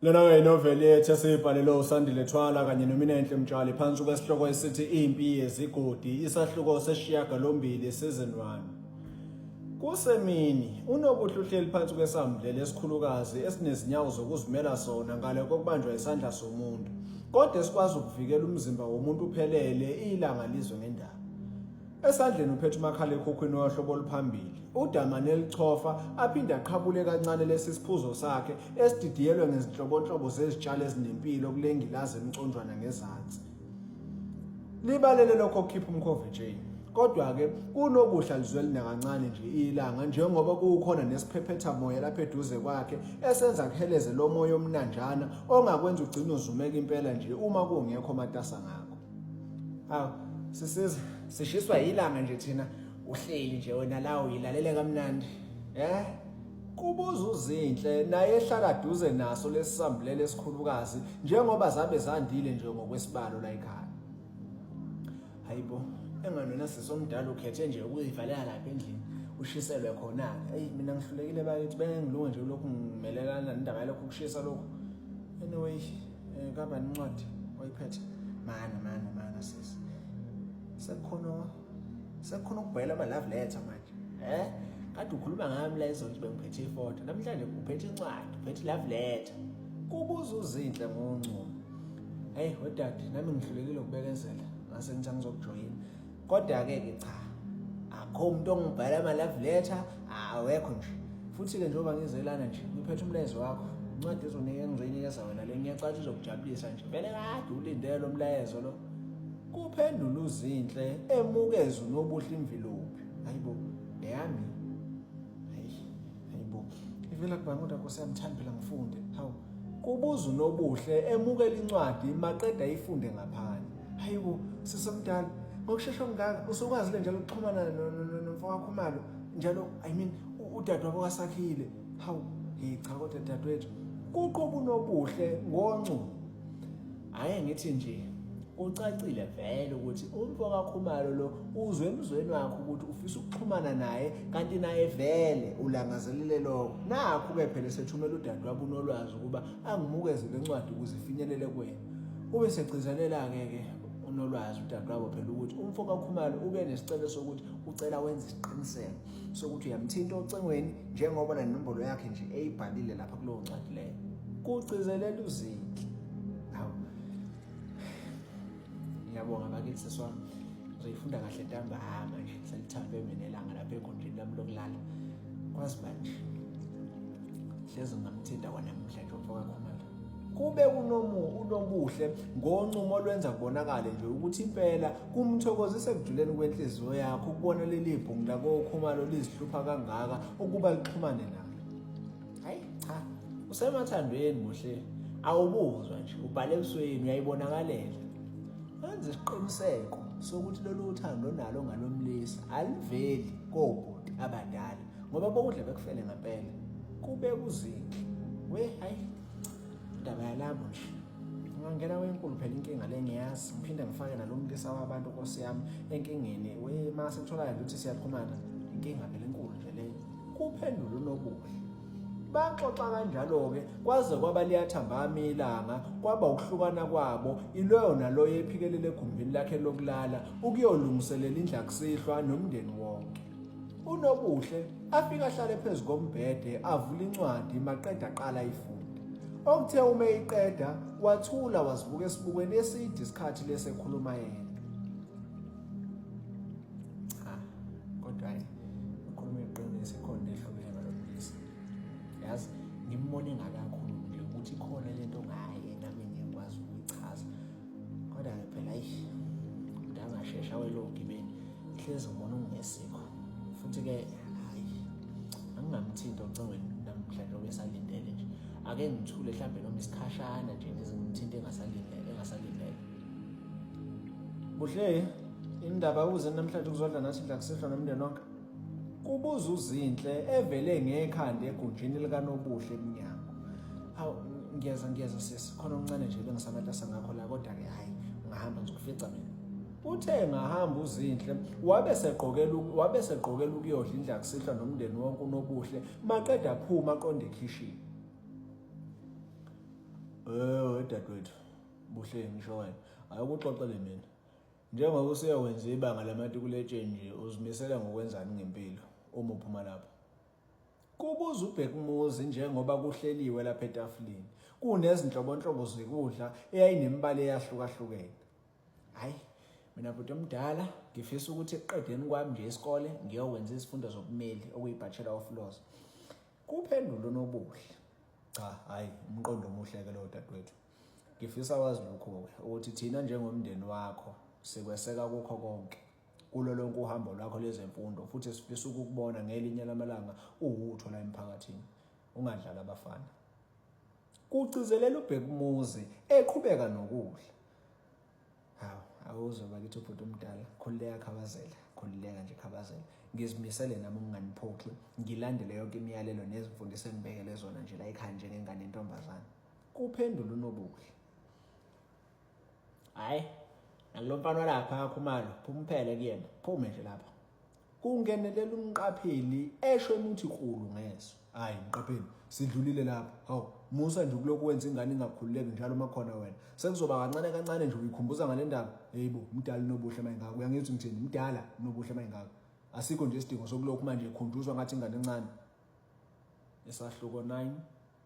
Lena-ke yinoveli yethu esiyibhalelwe uSandile Thwala kanye noMinenhle Mtshali phansi kwesihloko esithi Impi Yezigodi, isahluko seshiyagalombili, season 1. Kusemini, uNobuhle uhleli phansi kwesamdlela esikhulukazi esinezinyawo zokuzimela sona ngale kokubanjwa isandla somuntu, kodwa esikwazi ukuvikela umzimba womuntu uphelele ilanga lizwe ngendaba. Esandleni uphethe umakhalekhukhwini wohlobo oluphambili. Udamane elichofa aphinde aqhabule kancane lesi siphuzo sakhe esididiyelwe ngezinhlobonhlobo zezitshalo ezinempilo kulengilazi emconjwana ngezansi. Libalele lokho kukhipha umkhove Jane. Kodwa-ke kunokuhla lizweli nakancane nje ilanga njengoba kuwukhona nesiphephetha moya lapha eduze kwakhe esenza kuheleze lo moya omnanjana ongakwenza ugcine uzumeka impela nje uma kungekho matasa ngakho. Hawu sisiza sishiswa yilanga nje thina uhleli nje wena la uyilalela kamnandi. Eh? Kubuza uzinhle naye ehlala duze naso lesisambulele esikhulukazi njengoba zabe zandile nje ngokwesibalo la ekhaya. Hayibo, enganona sesomdala ukhethe nje ukuyivalela lapha endlini. ushiselwe khona-ke eyi mina ngihlulekile bakithi bengilunge nje lokhu ngimelelana nendaba yalokhu kushisa lokhu anyway eh kaba incwadi oyiphethe mana mana mana sisi sekukhona sekukhona ukubhela ama love letter manje eh kade ukhuluma ngami la izolo nje bengiphethe ifoto namhlanje uphethe incwadi uphethe love letter kubuza uzinhle ngoncumo hey wedade nami ngihlulekile ukubekezela ngase ngithe ngizokujoyina kodwa-ke ke cha akho umuntu ongibhala ama-love letter awekho nje futhi-ke njengoba ngizelana nje ngiphethe umlayezo wakho incwadi ezonika engizoyinikeza wena le ngiyacatsha uzokujabulisa nje vele kade ulindele lo mlayezo lo kuphendula uzinhle emukeza unobuhle imvilophi hayi bo eyami hayibo ivela kubani kodwa nkosi yami thandi phela ngifunde hawu kubuza unobuhle emukela incwadi maqeda ifunde ngaphandle hayibo sisomdala ngokushesha ngaka usukwazi le njalo ukuxhumana nomfowakho umalo njalo i mean udadewabo kasakhile hawu hey cha kodwa dadewethu kuqoba unobuhle ngoncu Hayi ngithi nje kucacile vele ukuthi umfo kaKhumalo lo uzwe emzweni wakhe ukuthi ufisa ukuxhumana naye kanti naye vele ulangazelele lokho nakho ke phela sethumela udadewabo unolwazi ukuba angimukeze lencwadi ukuze ifinyelele kuwena ube segcizelela ke ke unolwazi udadewabo phela ukuthi umfo kaKhumalo ube nesicelo sokuthi ucela wenze isiqiniseko sokuthi uyamthinta ocingweni njengoba nenombolo yakhe nje eyibhalile lapha kulowo ncwadi leyo kugcizelela uzinhle awu ngiyabonga bakithi seswami ngizofunda kahle ntambama nje selithandwe mina elanga lapha ekhondleni lami lokulala kwazi manje hlezi ngamthinta kwanamuhla nje umfoka khumalo kube kunomu unobuhle ngoncumo olwenza kubonakale nje ukuthi impela kumthokozise ekujuleni kwenhliziyo yakho ukubona leli bhungu lakokhumalo lizihlupha kangaka ukuba lixhumane nalo hayi cha usemathandweni muhle awubuzwa nje ubhale ebusweni uyayibonakalela wenza isiqiniseko sokuthi lolu uthando onalo ngalomlisa aliveli kobhuti abadala ngoba bowudla bekufele ngempela kube kuziki we hayi indaba yalabo nje ungangena wenkulu phela inkinga le ngiyazi ngiphinde ngifake nalo mlisa wabantu nkosi yami enkingeni we ma sekutholayo ukuthi siyaxhumana inkinga phela enkulu nje leyo kuphendula unobuhle baxoxa kanjalo-ke kwaze kwaba liyathambama ilanga kwaba ukuhlukana kwabo iloyo naloyo ephikelele egumbini lakhe lokulala ukuyolungiselela indlakusihlwa nomndeni wonke unobuhle afike ahlale phezu kombhede avula incwadi maqeda aqala ifunde okuthe uma eyiqeda wathula wazibuka esibukweni eside isikhathi lesi ekhuluma yena cha kodwa hayi ukhuluma iqiniso ikhona ehlukene ngalobulisa yazi ngimbone ngakakhulu nje ukuthi ikhona lento ngaye nami ngiyakwazi ukuyichaza kodwa phela ayi mdala shesha awele ogibeni ihlezi ngibona ungesikho futhi ke hayi angingamthinti ocingweni namhlanje obesalindele nje ake ngithule mhlawumbe noma isikhashana nje ngizimthinti engasalindele engasalindele buhle indaba uze namhlanje kuzodla nathi ndla kusehlwa nomndeni wonke Kubuza uZinhle evele ngekhanda egunjini likanobuhle eminyango. Awu ngiyeza ngiyeza sisi khona omncane nje bengisamatasa ngakho la kodwa ke hayi ngahamba ngizokufica mina. Uthe ngahamba uZinhle wabe segqokela wabe segqokela ukuyodla indla kusihlwa nomndeni wonke unobuhle maqeda phuma aqonde ekhishini. Eh dadwethu buhle ngisho wena ayikuxoxele mina. Njengoba usuya wenza ibanga lamatikuletsheni nje uzimisela ngokwenzani ngempilo uma uphuma lapho? Kubuza uBhekumuzi njengoba kuhleliwe lapha etafuleni. Kunezinhlobonhlobo zokudla eyayinemibala eyahlukahlukene. Hayi, mina bhuti omdala ngifisa ukuthi ekuqedeni kwami nje isikole ngiyokwenza izifundo zobumeli okuyi-Bachelor of Laws. Kuphendula uNobuhle. Cha, hayi, umqondo omuhle-ke lowo dadewethu. Ngifisa wazi lokhu ukuthi thina njengomndeni wakho sikweseka kukho konke kulo lonke uhambo lwakho lezemfundo futhi sifisa ukukubona ngelinye lamalanga uwutho la emphakathini ungadlala abafana kucizelela ubhekumuzi eqhubeka nokudla hawu awuzwe bakithi ubhuti omdala khululeka khabazela khululeka nje khabazela ngizimisele nami ukunganiphoxi ngilandele yonke imiyalelo nezimfundiso engibekele zona nje la ekhaya njengengane intombazane kuphendula uNobuhle hayi nalo mfana walapha akhumalo phumphele kuyena phume nje lapha kungenelela umqapheli esho umuthi kulu ngeso hayi mqapheli sidlulile lapha hawu musa nje ukulokhu wenza ingane ingakhululeki njalo uma khona wena sekuzoba kancane kancane nje uyikhumbuza ngale ndaba heyibo mdala unobuhle mayingako uyangithi ngithini mdala unobuhle mayingako asikho nje isidingo sokulokhu manje ekhunjuzwa ngathi ingane encane isahluko 9